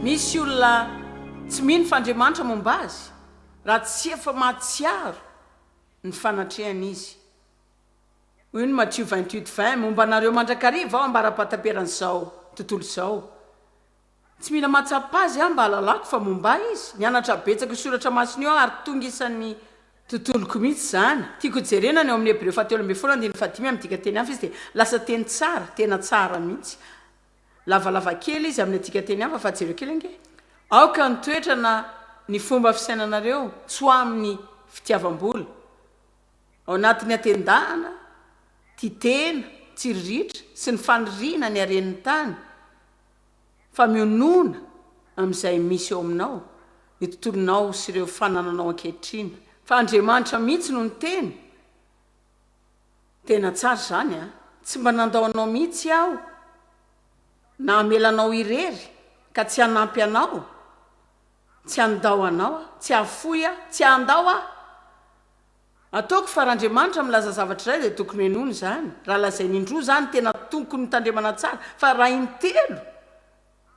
Misy olona tsy mino fa Andriamanitra momba azy raha tsy efa mahatsiaro ny fanatrehany izy. Hoy ny Matio vingt huit vingt, Momba anareo mandrakariva aho ambara-pahataperan'izao tontolo izao. Tsy mila mahatsapa azy aho mba hahalalako fa momba ahy izy. Nianatra betsaka io soratra masina io aho ary tonga isan'ny tontoloko mihitsy izany. Tiako jerena ny ao amin'ny Hebreo fahatelo ambin'ny folo andininy fahadimy amin'ny dikan-teny hafa izy dia lasa teny tsara, tena tsara mihitsy. Lavalava kely izy amin'ny dikan-teny hafa fa jereo kely ange. Aoka ny toetra na ny fomba fisainanareo tsy ho amin'ny fitiavam-bola, ao anatin'ny hatendahana, tia tena, tsiriritra, sy ny faniriana ny haren'ny tany, fa mionona amin'izay misy eo aminao ny tontolonao sy ireo fanananao ankehitriny, fa Andriamanitra mihitsy no niteny, Tena tsara izany an! Tsy mba nandao anao mihitsy Aho na hamela anao irery ka tsy hanampy anao, tsy handao anao Aho, tsy hahafoy Aho, tsy handao Aho. Ataoko fa raha Andriamanitra milaza zavatra iray dia tokony henoina izany, raha lazainy indroa izany tena tokony mitandremana tsara fa raha intelo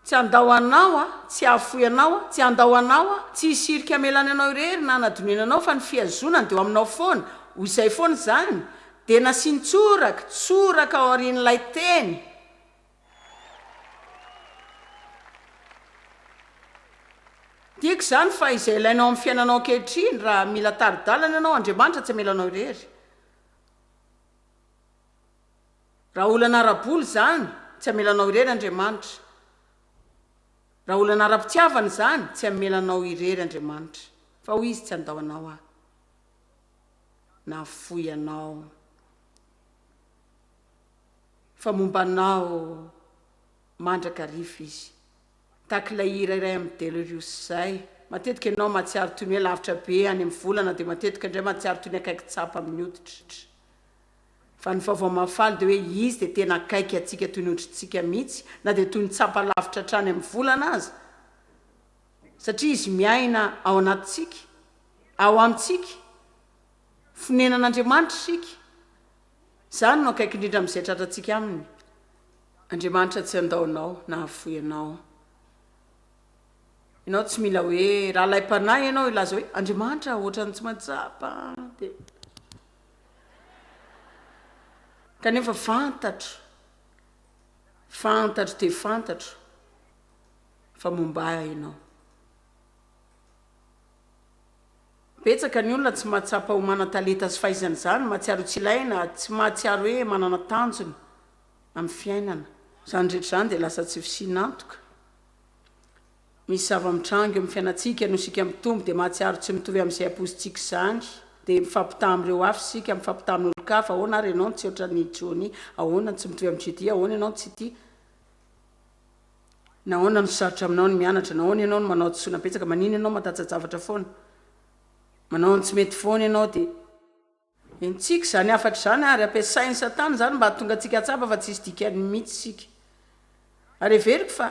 tsy handao anao aho, tsy hahafoy anao aho, tsy handao anao aho, tsy hisy hirika hamelany anao irery na hanadinoina anao fa ny fihazonany dia eo aminao foana, ho izay foana izany, dia nasiany tsoraka, tsoraka aorian'ilay teny. Tiako izany fa izay ilainao amin'ny fiainanao ankehitriny, raha mila tari-dalana ianao, Andriamanitra tsy hamela anao irery. Raha olana ara-bola izany, tsy hamela anao irery Andriamanitra. Raha olana ara-pitiavana izany, tsy hamela anao irery Andriamanitra. Fa hoy Izy, tsy handao anao Aho. Nahafoy anao. Fa momba anao mandrakariva izy. Tahaka ilay hira iray amin'i Delirious izay, matetika ianao mahatsiaro toy ny hoe lavitra be any amin'ny volana dia matetika indray mahatsiaro toy ny akaiky tsapa amin'ny hoditr'tra. Fa ny vaovao mahafaly dia hoe izy dia tena akaiky antsika toy ny hoditrintsika mihitsy na dia toy ny tsapa lavitra hatrany amin'ny volana aza satria izy miaina ao anatintsika, ao amintsika. Fonenan'Andriamanitra isika. Izany no akaiky indrindra amin'izay tratrantsika Aminy. Andriamanitra tsy handao anao na hahafoy anao. Ianao tsy mila hoe rahalahi-panahy ianao hilaza hoe, Andriamanitra ah, ohatran'ny tsy mahatsapa dia. Kanefa fantatro, fantatro dia fantatro fa momba Ahy ianao. Betsaka ny olona tsy mahatsapa ho manan-talenta sy fahaizana izany, mahatsiaro tsy ilaina, tsy mahatsiaro hoe manana tanjona amin'ny fiainana. Izany rehetra izany dia lasa tsy fisian'antoka. Misy zava-mitranga eo amin'ny fiainantsika noho isika mitombo dia mahatsiaro tsy mitovy amin'izay ampoizintsika izany. Dia mifampitaha amin'ireo hafa isika, mifampitaha amin'olon-kafa, ahoana ary ianao no tsy ohatran'i Johnny, ahoana no tsy mitovy amin'i Judy, ahoana ianao no tsy tia. Nahoana no sarotra aminao ny mianatra? Nahoana ianao no manao hadisoana betsaka? Maninona ianao matajajavatra foana? Manao ny tsy mety foana ianao dia. Henontsika izany hafatra izany ary ampiasain'i Satana izany mba hahatonga antsika hahatsapa fa tsisy dikany mihitsy isika. Ary heveriko fa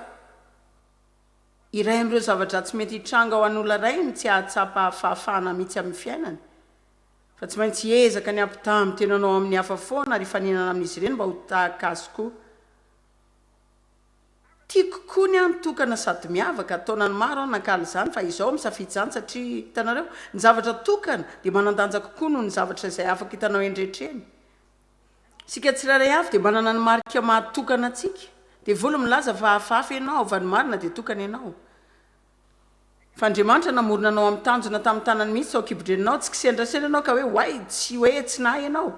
iray amin'ireo zava-dratsy mety hitranga ho an'olona iray ny tsy hahatsapa fahafahana mihitsy amin'ny fiainany. Fa tsy maintsy hiezaka ny hampitaha amin'ny tenanao amin'ny hafa foana ary hifaninana amin'izy ireny mba ho tahaka azy koa. Tiako koa ny ahy mitokana sady miavaka, taonany maro aho nankany izany fa izao aho misafidy izany satria, hitanareo, ny zavatra tokana dia manan-danja kokoa noho ny zavatra izay afaka hitanao eny rehetra eny. Isika tsirairay avy dia manana ny marika maha tokana antsika. Devoly milaza fa hafahafa ianao, haava ny marina dia tokana ianao. Fa Andriamanitra namorona anao amin'ny tanjona tamin'ny tanany mihitsy tao an-kibodreninao, tsy kisendrasendra ianao ka hoe oay, tsy hoe tsy nahay ianao.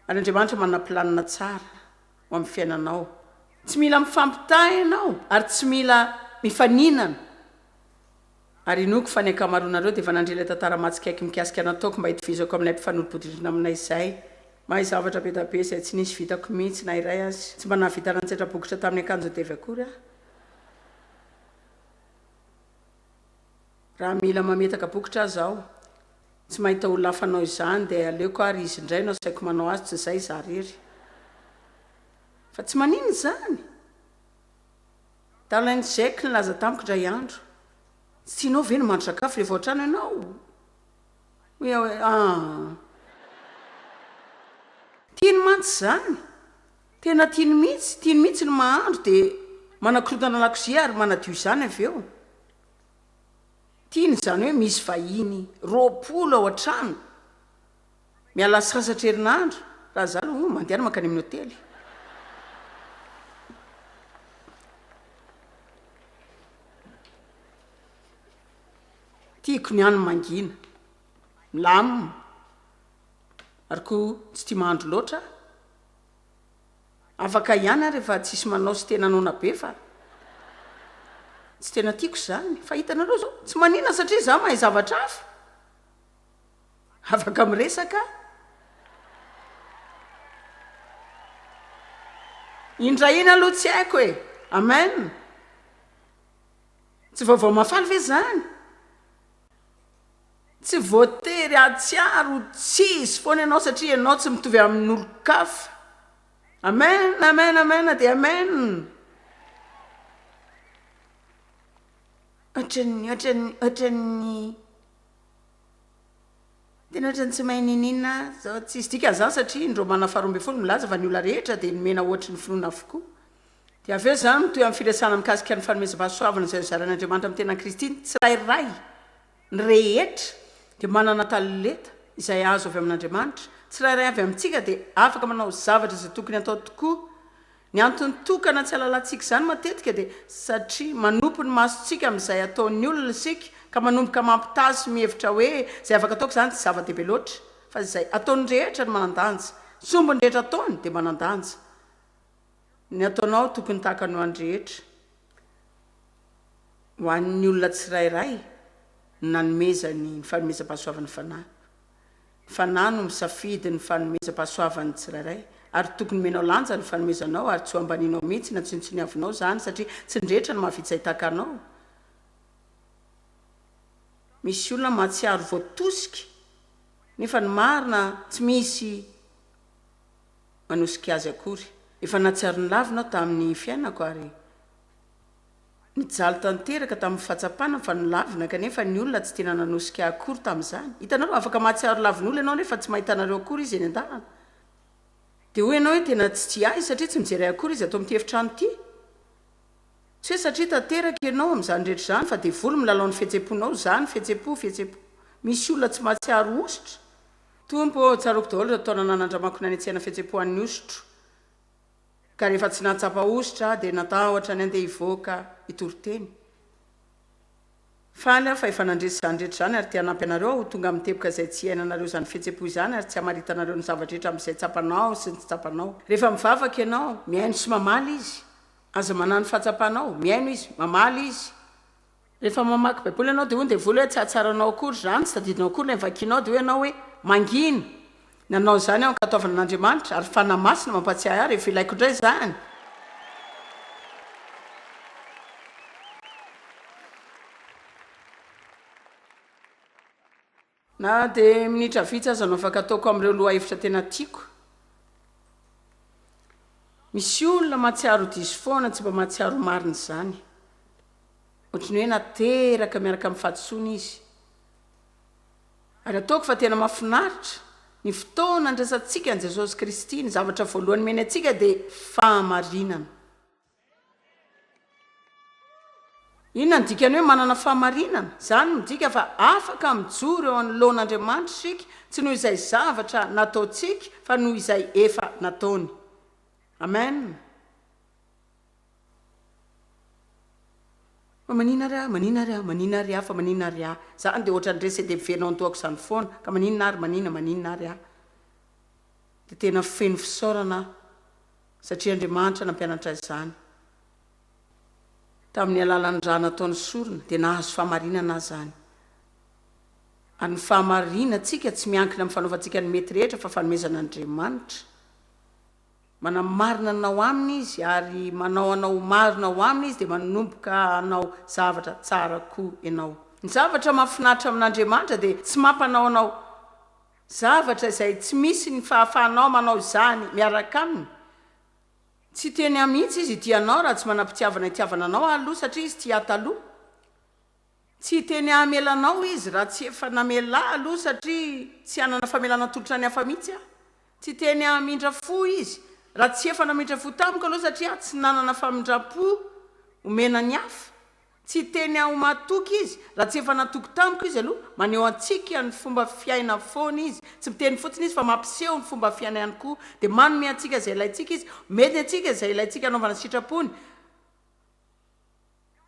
Ary Andriamanitra manana planina tsara. ho amin'ny fiainanao. Tsy mila mifampitaha ianao ary tsy mila mifaninana. Ary inoako fa ny ankamaroanareo dia efa nandre ilay tantara mahatsikaiky mikasika nataoko mba hitovizako amin'ilay mpifanolo-bodirindrina aminay izay. Mahay zavatra be dia be izay tsy nisy vitako mihitsy na iray aza. Tsy mba nahavita nantsetra bokotra tamin'ny akanjodevy akory aho. Raha mila mametaka bokotra aza aho, tsy mahita olona hafa hanao izany dia aleoko ary izy indray no asaiko manao azy tsy izay izaho irery. Fa tsy maninona izany? Darling Jack nilaza tamiko indray andro, Tsy tianao ve ny mandry sakafo rehefa ao an-trano ianao? Hoy aho hoe, Ah! Tiany mantsy izany! Tena tiany mihitsy, tiany mihitsy ny mahandro dia manakorontana lakozia ary manadio izany avy eo. Tiany izany hoe misy vahiny roapolo ao an-trano, miala sasatra herinandro, raha izaho aloha oh, mandehana mankany amin'ny hotely. Tiako ny any mangina, milamina, ary koa tsy tia mahandro loatra aho. Afaka ihany aho rehefa tsisy manao sy tena noana be fa tsy tena tiako izany. Fa hitanareo izao, tsy manina satria izaho mahay zavatra hafa. Afaka miresaka aho. Indray iny aloha tsy haiko e. Amen. Tsy vaovao mahafaly ve izany? Tsy voatery hahatsiaro ho tsy izy foana ianao satria ianao tsy mitovy amin' olon-kafa. Amen, amen, amen dia amen. Ohatran'ny, ohatran'ny, ohatran'ny, tena ohatran'ny tsy mahay niniana zao, tsisy dikany izany satria indreo manana faharoa ambin'ny folo milaza fa ny olona rehetra dia nomena ohatry ny finoana avokoa. Dia avy eo izany mitohy amin'ny firesahana mikasika ny fanomezam-pahasoavana izay hozarain'Andriamanitra amin'ny tenan'i Kristy, ny tsirairay, ny rehetra, dia manana talenta izay azo avy amin'Andriamanitra, ny tsirairay avy amintsika dia afaka manao zavatra izay tokony hatao tokoa. Ny antony tokana tsy halalantsika izany matetika dia satria manopy ny masontsika amin'izay ataon'ny olona isika ka manomboka mampitaha sy mihevitra hoe izay afaka ataoko izany tsy zava-dehibe loatra fa izay ataon'ny rehetra no manan-danja, sombin'ny rehetra ataony dia manan-danja. Ny ataonao tokony takany ho an'ny rehetra, ho an'ny olona tsirairay ny nanomezany ny fanomezam-pahasoavan'ny Fanahy. Ny Fanahy no misafidy ny fanomezam-pahasoavan'ny tsirairay, ary tokony omenao lanja ny fanomezanao ary tsy ho ambanianao mihitsy na tsinontsiniavinao izany satria tsy ny rehetra no mahavita hitaka anao. Misy olona mahatsiaro voatosika nefa ny marina tsy misy. manosika azy akory. Efa nahatsiaro ny laviny aho tamin'ny fiainako ary nijaly tanteraka tamin'ny fahatsapana fa nolavina, kanefa ny olona tsy tena nanosika ahy akory tamin'izany. Hitanareo, afaka mahatsiaro lavin'olona ianao nefa tsy mahita anareo akory izy eny an-dalana. Dia hoy ianao hoe tena tsy tia ahy satria tsy mijery ahy akory izy ato amin'ity efitrano ity. Tsy hoe satria tanteraka ianao amin'izany rehetra izany fa devoly milalao ny fihetsem-ponao, izaho ny fihetsem-po, fihetsem-po. Misy olona tsy mahatsiaro hosotra. Tompo ô, tsaroako daholo ireo taona nanandramako nanetsehana fihetsem-po an'ny hosotro, ka rehefa tsy nahatsapa hosotra aho, dia natahotra ny handeha hivoaka hitory teny. Faly aho fa efa nandresy izany rehetra izany, ary te hanampy anareo aho ho tonga amin'ny teboka izay tsy hiainanareo izany fihetsem-po izany, ary tsy hamaritanareo ny zava-drehetra amin'izay tsapanao sy ny tsy tsapanao. Rehefa mivavaka ianao, mihaino sy mamaly Izy. Aza manano fahatsapanao, mihaino Izy, mamaly Izy. Rehefa mamaky Baiboly ianao, dia hoy ny devoly hoe, Tsy hahatsaranao akory izany, tsy tadidinao akory ilay vakinao, dia hoy ianao hoe, Mangina! Nanao izany aho ankatoavina an'Andriamanitra, ary Fanahy Masina mampatsiahy ahy rehefa ilaiko indray izany. Na dia minitra vitsy aza no afaka ataoko amin'ireo lohahevitra tena tiako. Misy olona mahatsiaro diso foana tsy mba mahatsiaro marina izany. Ohatry ny hoe nateraka miaraka amin'ny fahadisoana izy. Ary ataoko fa tena mahafinaritra, ny fotoana andraisantsika an'i Jesosy Kristy, ny zavatra voalohany omeny antsika dia fahamarinana. Inona no dikan'ny hoe manana fahamarinana? Izany midika fa afaka mijoro eo anoloan'Andriamanitra isika, tsy noho izay zavatra nataontsika, fa noho izay efa nataony. Amen. Fa maninona ary aho, maninona ary aho, maninona ary aho, fa maninona ary aho? Izany dia ohatran'ny rese-deby feno ao an-toako izany foana, ka maninona ary, maninona, maninona ary aho? Dia tena feno fisaorana aho. Satria Andriamanitra nampianatra azy izany tamin'ny alalan'ny rà nataony sorona, dia nahazo fahamarinana azy izany. Ary ny fahamarinantsika tsy miankina amin'ny fanaovantsika ny mety rehetra, fa fanomezan'Andriamanitra. Manamarina anao aminy Izy, ary manao anao ho marina ao Aminy Izy, dia manomboka hanao zavatra tsara koa ianao. Ny zavatra mahafinaritra amin'Andriamanitra dia tsy mampanao anao Zavatra izay tsy misy ny fahafahanao manao izany miaraka aminy. Tsy teny ahy mihitsy izy hitia anao raha tsy manam-pitiavana hitiavana anao aho aloha satria izy tia ahy taloha. Tsy hiteny hahamela anao izy raha tsy efa namela ahy aloha satria tsy hanana famelana atolotra ny hafa mihitsy aho. Tsy hiteny hahamindra fo izy raha tsy efa namindra fo tamiko aloha satria aho tsy nanana famindram-po omena ny hafa. Tsy teny aho matoky izy, raha tsy efa natoky tamiko izy aloha, maneho antsika ny fomba fiaina foana izy, tsy miteny fotsiny izy fa mampiseho ny fomba fiaina ihany koa, dia manome antsika izay ilaintsika izy, omeny antsika izay ilaintsika hanaovana sitrapony,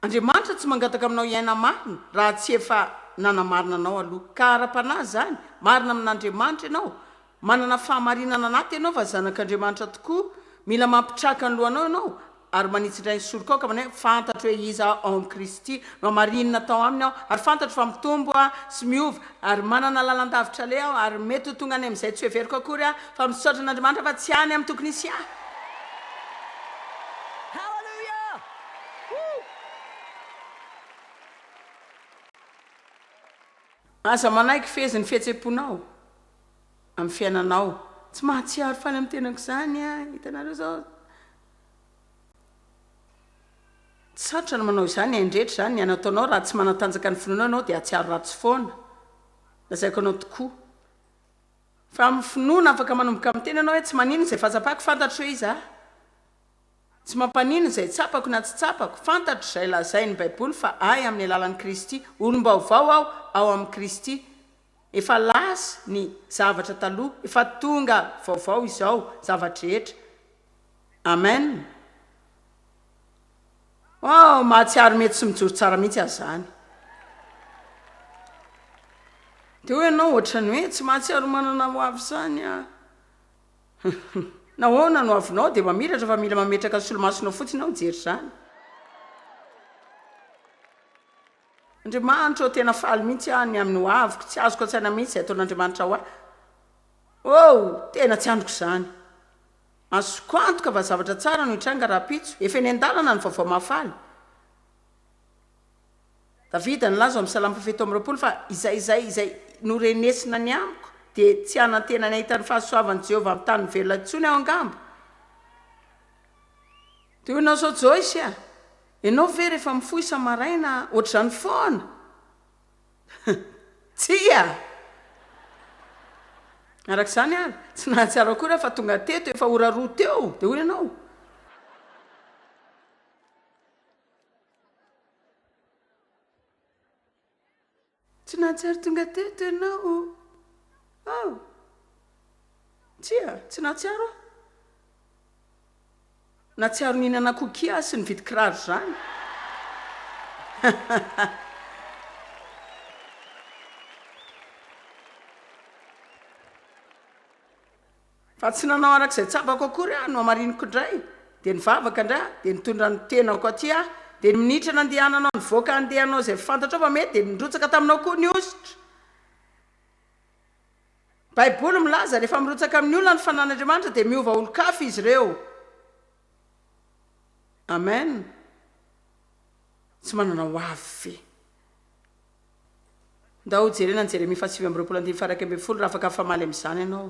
Andriamanitra tsy mangataka aminao hiaina marina raha tsy efa nanamarina anao aloha, ka ara-panahy izany, marina amin'Andriamanitra ianao, Manana fahamarinana anaty ianao fa zanak'Andriamanitra tokoa, mila mampitraka ny lohanao ianao ary manitsindray ny sorokaoka manao hoe, Fantatro hoe iza aho ao amin'i Kristy, nohamarinina tao aminy aho, ary fantatro fa mitombo aho sy miova, ary manana lalan-davitra aleha aho, ary mety ho tonga any amin'izay tsy hoheveriko akory aho, fa misaotra an'Andriamanitra fa tsy any amin'ny tokony hisy ahy. Aza manaiky fehezin'ny fihetsem-ponao. amin'ny fiainanao. Tsy mahatsiaro faly amin'ny tenako izany an! Hitanareo izao? Tsy sarotra ny manao izany, hain'ny rehetra izany ny anataonao. Raha tsy manatanjaka ny finoanao ianao dia hahatsiaro ratsy foana. Lazaiko anao tokoa. Fa amin'ny finoana afaka manomboka miteny ianao hoe tsy manino izay fahatsapako, fantatro hoe iza. Tsy mampanino izay tsapako na tsy tsapako, fantatro izay lazain'ny Baiboly fa ahy amin'ny alalan'i Kristy. Olom-baovao aho ao amin'i Kristy. Efa lasa ny zavatra taloha efa tonga vaovao izao zava-drehetra Amen oh mahatsiaro mety tsy mijoro tsara mihitsy aza zany de hoe ianao ohatran'ny hoe tsy mahatsiaro manana ho avy zany ah nahoana no avinao de mamiratra fa mila mametraka solomasonao fotsiny aho hijery zany Andriamanitra ô tena faly mihitsy aho ny amin'ny ho aviko, tsy azoko an-tsaina mihitsy izay ataon'Andriamanitra ho ahy oh! tena tsy andriko izany, azoko antoka fa zavatra tsara no hitranga rahampitso, efa eny an-dalana ny vaovao mahafaly, Davida nilaza ao amin'ny salamo fahafito amby roapolo fa izay izay izay norenesina ny amiko dia tsy hanantena ny hahita ny fahasoavan'i Jehovah amin'ny tany velona intsony aho angamba, Dia hoy an'izao Joyce a! Ianao ve rehefa mifoha isa-maraina ohatr'izany foana? Tsia! Araka izany ary, tsy nahatsiaro akory aho fa tonga teto efa ora roa teo, dia hoy ianao, Tsy nahatsiaro tonga teto ianao aho. Tsia, tsy nahatsiaro aho. Nahatsiaro nihinana cookie aho sy nividy kiraro izany. Fa tsy nanao araka izay tsapako akory aho, nohamariniko indray, dia nivavaka indray aho, dia nitondra ny tenako aty aho, dia ny minitra nandehananao nivoaka handeha hanao izay fantatrao fa mety dia nirotsaka taminao koa ny hosotra. Baiboly milaza, rehefa mirotsaka amin'ny olona ny fanan'Andriamanitra dia miova olon-kafa izy ireo. Amen. Tsy manana hoavy ve. Ndao jerena ny Jeremia fahasivy amby roapolo andininy faharaika ambin'ny folo raha afaka hifamaly amin'izany ianao.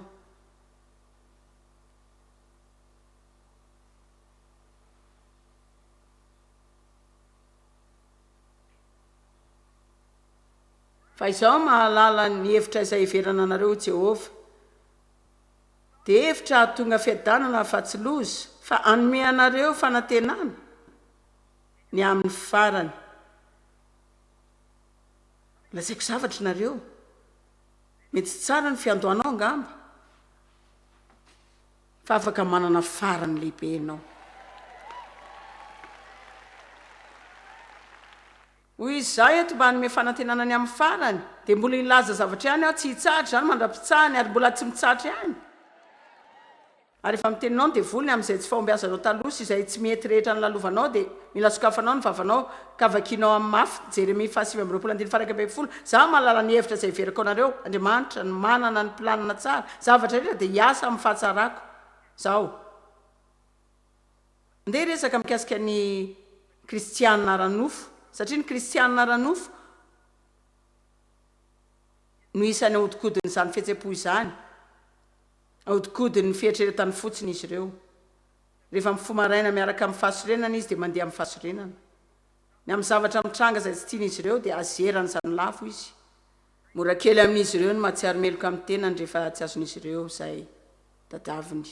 Fa izaho mahalala ny hevitra izay hiheverana anareo, hoy Jehovah, dia hevitra hahatonga fiadanana fa tsy loza, fa hanome anareo fanantenana ny amin'ny farany. Lazaiko zavatra nareo, mety tsy tsara ny fiandohanao angamba, fa afaka manana farany lehibe ianao. Hoy izy, izaho eto mba hanome fanantenana ny amin'ny farany, dia mbola hilaza zavatra ihany aho, tsy hitsahatra izany mandra-pitsahany, ary mbola tsy mitsahatra ihany. Ary efa miteninao ny devoly ny amin'izay tsy fahombiazanao taloha sy izay tsy mety rehetra nolalovanao dia mila sokafanao ny vavanao ka vakianao amin'ny mafy, Jeremia faha sivy amby roapolo andininy faha iraika ambin'ny folo, Za mahalala ny hevitra izay heverako anareo, Andriamanitra, ny manana ny planina tsara, zavatra rehetra dia hiasa amin'ny fahatsarako, Zaho. Andeha hiresaka mikasika ny kristiana ara-nofo, satria ny kristiana ara-nofo no isan'ny ahodikodin'izany fihetsem-po izany. Ahodinkodin'ny fieritreretany fotsiny izy ireo. Rehefa mifoha maraina miaraka amin'ny fahasorenana izy dia mandeha amin'ny fahasorenana. Ny amin'ny zavatra mitranga izay tsy tian'izy ireo dia azerany izany lavo izy. Mora kely amin'izy ireo ny mahatsiaro meloka amin'ny tenany rehefa tsy azon'izy ireo izay tadiaviny.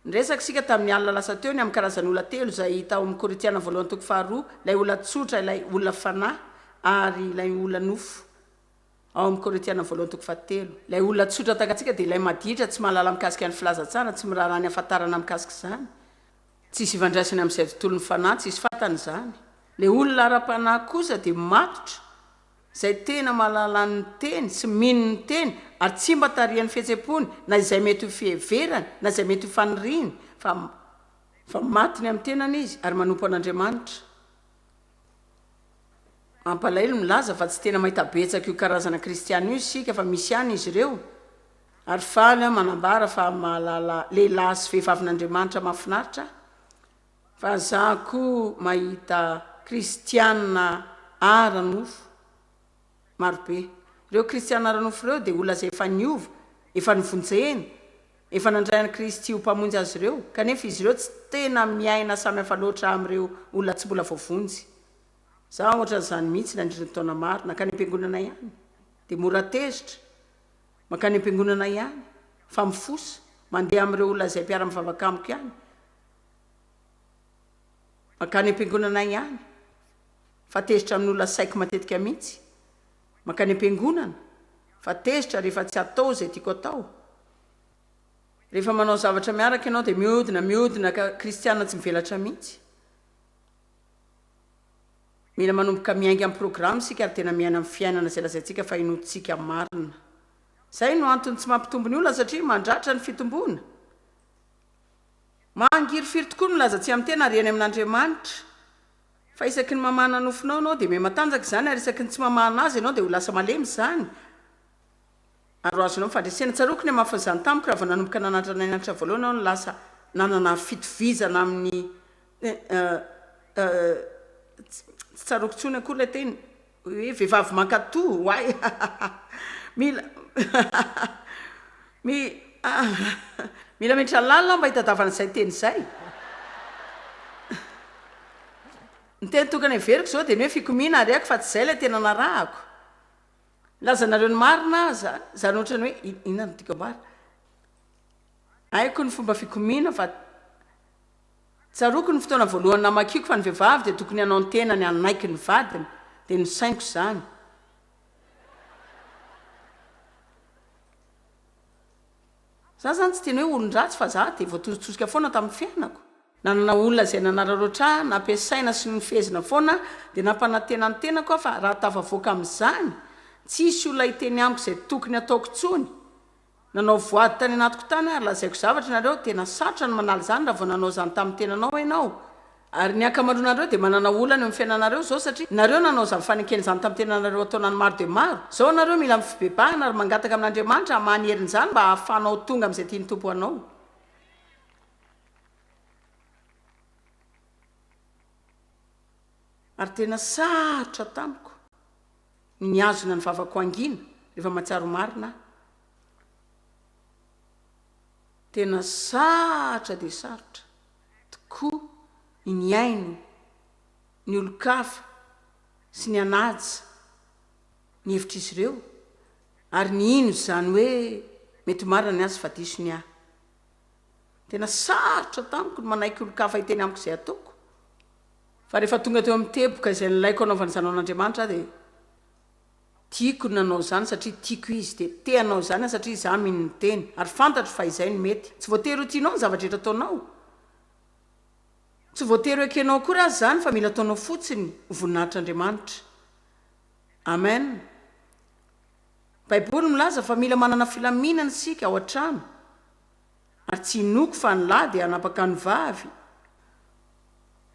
Niresaka isika tamin'ny alina lasa teo ny amin'ny karazan'olona telo izay hita ao amin'ny Korintiana voalohany toko faharoa, ilay olona tsotra, ilay olona fanahy ary ilay olona nofo. Ao amin'ny Korintiana voalohany toko fahatelo, ilay olona tsotra takantsika dia ilay maditra, tsy mahalala mikasika ny filazantsara, tsy miraharaha ny hafantarana mikasika izany. Tsisy ifandraisany amin'izay tontolon'ny fanahy, tsisy fantany izany. Ilay olona ara-panahy kosa dia matotra, izay tena mahalala ny Teny sy mino ny Teny, ary tsy mba tarihan'ny fihetsem-pony, na izay mety ho fiheverany, na izay mety ho faniriany, fa, fa maty ny amin'ny tenany izy, ary manompo an'Andriamanitra. Mampalahelo milaza fa tsy tena mahita betsaka io karazana kristiana io isika fa misy ihany izy ireo, ary faly aho manambara fa mahalala lehilahy sy vehivavin'Andriamanitra mahafinaritra aho, fa za koa mahita kristiana ara-nofo. Marobe. Ireo kristiana ara-nofo ireo dia olona izay efa niova, efa novonjena, efa nandray an'i Kristy ho Mpamonjy azy ireo, kanefa izy ireo tsy tena miaina samy hafa loatra amin'ireo olona tsy mbola voavonjy. Izaho hoatran'izany mihitsy nandritra ny taona maro, nankany am-piangonana ihany, dia mora tezitra, mankany am-piangonana ihany, fa mifosa, mandeha amin'ireo olona izay mpiara-mivavaka amiko ihany, mankany am-piangonana ihany. fa tezitra amin'ny olona saiky matetika mihitsy, mankany am-piangonana fa tezitra rehefa tsy atao izay tiako atao, rehefa manao zavatra miaraka ianao dia mihodina, mihodina ka kristiana tsy mivelatra mihitsy. Mila manomboka miainga amin'ny programa isika ary tena miaina ny fiainana izay lazaintsika fa inoantsika marina. Izay no antony tsy mampitombo ny olona satria mandratra ny fitomboana. Mangirifiry tokoa ny milaza tsy amin'ny tena ary eny amin'Andriamanitra. Fa isaky ny mamahana nofonao ianao dia mihamatanjaka izany, ary isaky ny tsy mamahana azy ianao dia ho lasa malemy izany, ary ho azonao ny fandresena. Tsaroako ny hamafin'izany tamiko raha vao nanomboka nananatra an'i Andriamanitra voalohany aho no lasa nanana fitovizana amin'ny, eh, eh, eh, tsy, tsy tsaroako intsony akory ilay teny. Hoe vehivavy mankato ho ahy ahahahha mila mi ahahahha mila menitra lalina aho mba hitadavana izay teny izay ny teny tokony averiko izao dia ny hoe fikomiana ary ako fa tsy izay ilay tena narahako lazanareo ny marina aza izany ohatra ny hoe inona no dikam-bary haiko ny fomba fikomiana fa Tsaroako ny fotoana voalohany namakiako fa ny vehivavy dia tokony hanao ny tenany hanaiky ny vadiny, dia nosainiko izany. Za izany tsy tena hoe olon-dratsy fa za dia voatosotsosika foana tamin'ny fiainako. Nanana olona izay nanararaotra ahy, nampiasaina sy nofehezina foana dia nampanantena ny tenako aho fa raha tafavoaka amin'izany, tsy hisy olona hiteny amiko izay tokony hataoko intsony. Nanao voady tany anatiko tany ary lazaiko zavatra nareo, tena sarotra ny manala izany raha vao nanao izany tamin'ny tenanao ianao, ary ny ankamaroanareo dia manana olana eo amin'ny fiainanareo izao satria nareo nanao izany fanekena izany tamin'ny tenanareo an-taonany maro dia maro, izao nareo mila amin'ny fibebahana ary mangataka amin'Andriamanitra hamaha ny herin'izany mba hahafahanao tonga amin'izay tian'ny Tompo hanao. Ary tena sarotra tamiko. ny mihazona ny vavako hangina rehefa mahatsiaro marina aho. Tena sarotra dia sarotra tokoa ny nihaino ny olon-kafa sy nihanaja ny hevitr'izy ireo ary nihino izany hoe mety marina ny azy fa diso ny ahy. Tena sarotra tamiko ny manaiky olon-kafa hiteny amiko izay ataoko Fa rehefa tonga teo amin'ny teboka izay nilaiko hanaovana izany ho an'Andriamanitra aho dia tiako ny nanao izany satria tiako Izy, dia te hanao izany aho satria izaho mino ny Teny ary fantatro fa izay no mety. Tsy voatery ho tianao ny zava-drehetra ataonao, tsy voatery ho ekenao akory aza izany fa mila ataonao fotsiny ho voninahitr'Andriamanitra. Amen. Baiboly milaza fa mila manana filaminana isika ao an-trano. ary tsy inoako fa ny lahy dia hanapaka ny vavy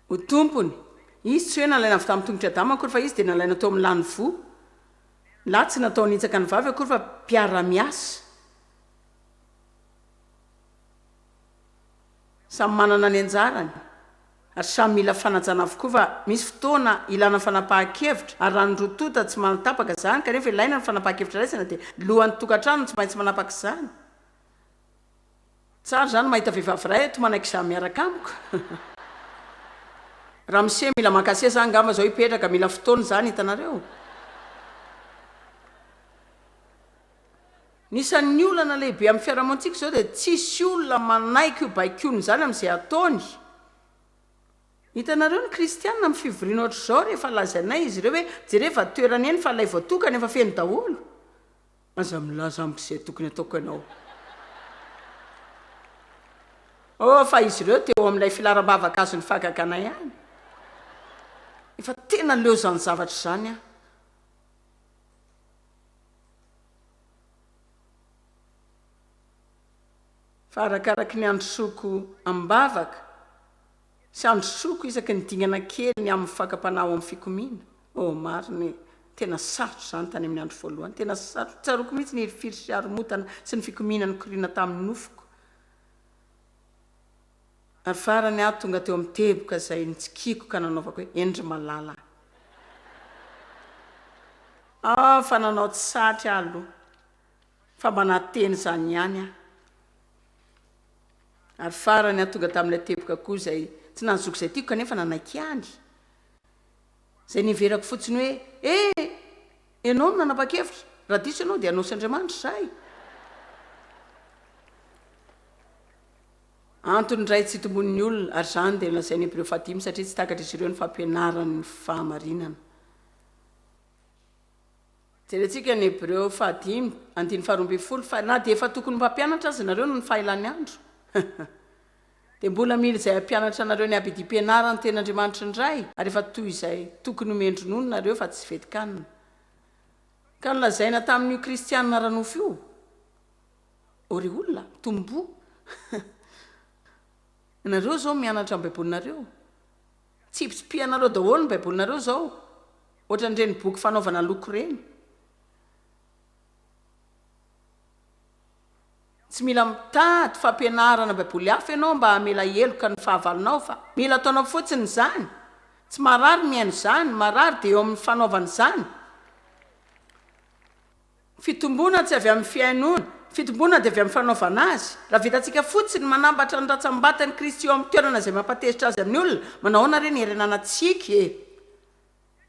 ho tompony, izy tsy hoe nalaina avy tamin'ny tongotr'i Adama akory fa izy dia nalaina tao amin'ny lany voa, ny lahy tsy natao hanitsaka ny vavy akory fa mpiara-miasa. Samy manana ny anjarany ary samy mila fanajana avokoa fa misy fotoana ilana fanapahan-kevitra ary raha ny roa tonta tsy mahatapaka izany kanefa ilaina ny fanapahan-kevitra raisina dia lohan'ny tokantrano no tsy maintsy manapaka izany. Tsara izany mahita vehivavy iray eto manaiky za miaraka amiko. Ramose mila maka seza angamba zao hipetraka, mila fotoana izany hitanareo. Ny isan'ny olana lehibe amin'ny fiarahamontsika izao dia tsisy olona manaiky io baikoany izany amin'izay ataony. Hitanareo ny kristiana amin'ny fivoriana ohatr'izao rehefa lazainay izy ireo hoe jereo efa toerana eny fa ilay voatokana efa feno daholo. Aza milaza amiko izay tokony ataoko ianao. Oh, fa izy ireo dia eo amin'ilay filaram-bavaka azon'ny fahagagana ihany. Efa tena leo izany zavatra izany aho. Fa arakaraky ny androsoako am-bavaka, Tsy androsoko isaky ny dingana kely ny amin'ny fakam-panahy ao amin'ny fikomiana. Oh, marina e! Tena sarotra izany tany amin'ny andro voalohany. Tena sarotra. Tsaroako mihitsy ny hirifiry sy haromotana sy ny fikomiana nikoriana tamin'ny nofoko. Ary farany aho tonga teo amin'ny teboka izay nitsikiako ka nanaovako hoe, Eny ry malala a! Ah, fa nanao tsy satry aho aloha, fa mba nahateny izany ihany aho. Ary farany aho tonga tamin'ilay teboka koa izay tsy nahazoako izay tiako kanefa nanaiky ihany. Izay niheverako fotsiny hoe, Eh! Ianao no nanapa-kevitra? Raha diso ianao dia hanao sy Andriamanitra izahay. Antony iray tsy itomboan'ny olona, ary izany dia nolazain'ny Hebreo fahadimy, satria tsy takatr'izy ireo ny fampianaran'ny fahamarinana. Jerentsika ny Hebreo faha dimy, andininy faharoa ambin'ny folo, fa na dia efa tokony ho mpampianatra aza ianareo noho ny fahelany andro, dia mbola mila izay hampianatra anareo ny habidim-pianarany tena Andriamanitry ny Ray, ary efa toy izay tokony ho mendri-nono nareo fa tsy vetin-kanina. Ka nolazaina tamin'io Kristianina ara-nofo io, O ry olona, tomboa! Ianareo izao mianatra ny Baibolinareo. Tsipitsipihanareoo daholo ny baibolinareo zao ohatrany reny boky fanaovana loko reny. Tsy mila mitady fampianarana baiboly hafa ianao mba hamela heloka ny fahavalonao fa mila ataonao fotsiny izany. Tsy marary mihaino izany, marary dia eo amin'ny fanaovana izany. Fitomboana tsy avy amin'ny fihainoana. Ny fitomboana dia avy amin'ny fanaovana azy. Raha vitantsika fotsiny ny manambatra ny rantsambatan'i Kristy eo amin'ny toerana izay mampatezitra Azy amin'ny olona, manahoana re ny hirenanantsika e?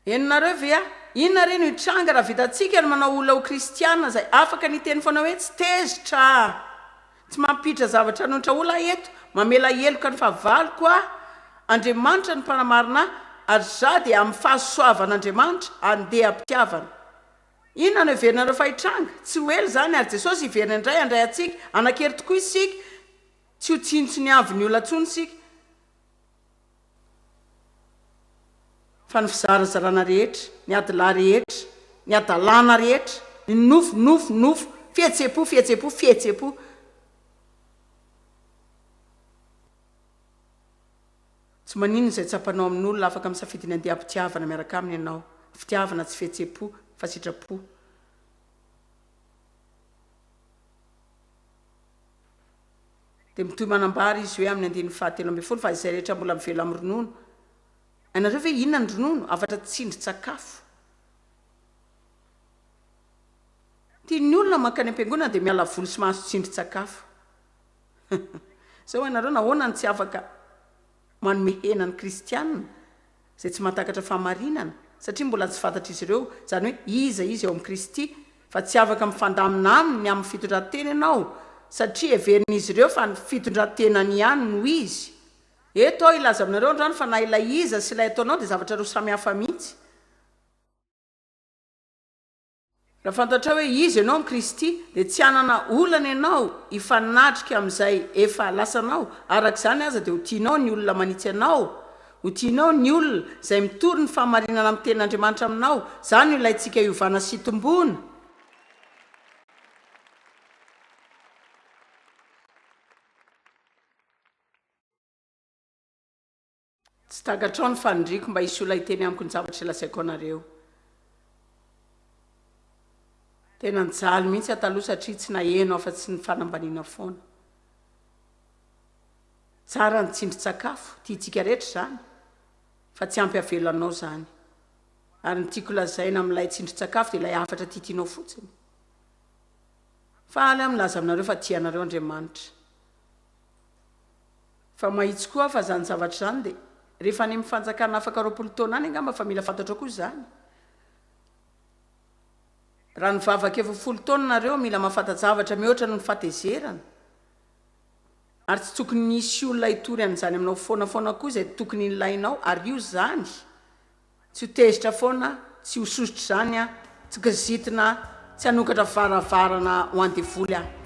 Henonareo ve a? Inona re no hitranga raha vitantsika ny manao olona ho Kristiana izay afaka ny hiteny foana hoe tsy tezitra a! Tsy mampiditra zavatra hanonitra olona aho eto, mamela heloka ny fahavaloko aho. Andriamanitra no mpanamarina ahy, ary izaho dia amin'ny fahasoavan'Andriamanitra, andeha am-pitiavana. Inona no heverinareo fa hitranga? Tsy ho ela izany ary Jesosy hiverina indray handray antsika. Hanan-kery tokoa isika tsy ho tsinontsiniavin'ny olona intsony isika fa ny fizarazarana rehetra, ny adilahy rehetra, ny hadalana rehetra, ny nofo, nofo, nofo, fihetsem-po, fihetsem-po, fihetsem-po. Tsy maninona izay tsapanao amin'olona, afaka misafidy ny handeha am-pitiavana miaraka aminy ianao. Fitiavana, tsy fihetsem-po, fa sitrapo. Dia mitohy manambara izy hoe amin'ny andininy fahatelo ambin'ny folo fa izay rehetra mbola mivela amin'ny ronono, Hainareo ve inona ny ronono? Hafatra tsindrin-tsakafo. Tian'ny olona mankany am-piangonana dia miala voly sy mahazo tsindrin-tsakafo. Zay ho'a nareo nahoana no tsy afaka manome hena ny kristiana izay tsy mahatakatra fahamarinana satria mbola tsy fantatr'izy ireo izany hoe iza izy eo amin'i Kristy fa tsy afaka mifandamina aminy amin'ny fitondran-tena ianao satria heverin'izy ireo fa ny fitondran-tenany ihany no izy. Eto aho hilaza aminareo androany fa na ilay iza sy ilay ataonao dia zavatra roa samy hafa mihitsy. Raha fantatrao hoe iza ianao amin'i Kristy, dia tsy hanana olana ianao hifanatrika amin'izay efa lasanao. Araka izany aza, dia ho tianao ny olona manitsy anao. Ho tianao ny olona izay mitory ny fahamarinana amin'ny Tenin'Andriamanitra aminao. Izany no ilaintsika hiovana sy hitomboana. Tsy takatrao ny fanindriako mba hisolo ahy teny amiko ny zavatra lazaiko anareo. Tena nijaly mihitsy aho taloha satria tsy naheno afa-tsy ny fanambaniana foana. Tsara ny tsindrin-tsakafo, tiantsika rehetra izany, fa tsy ampy havelo anao izany. Ary ny tiako lazaina amin'ilay tsindrin-tsakafo dia ilay hafatra tiatianao fotsiny. Faly aho milaza aminareo fa tia anareo Andriamanitra. Fa mahitsy koa aho fa izany zavatra izany dia rehefa any amin'ny fanjakana afaka roapolo taona any angamba fa mila fantatrao koa izany. Raha nivavaka efa ho folo taona nareo mila mahafanta-javatra mihoatra noho ny fahatezerana. Ary tsy tokony hisy olona hitory an'izany aminao foana foana koa izay tokony hilainao ary io izany. Tsy ho tezitra foana, tsy ho sosotra izany aho, tsy kizitina, tsy hanokatra varavarana ho an-devoly aho.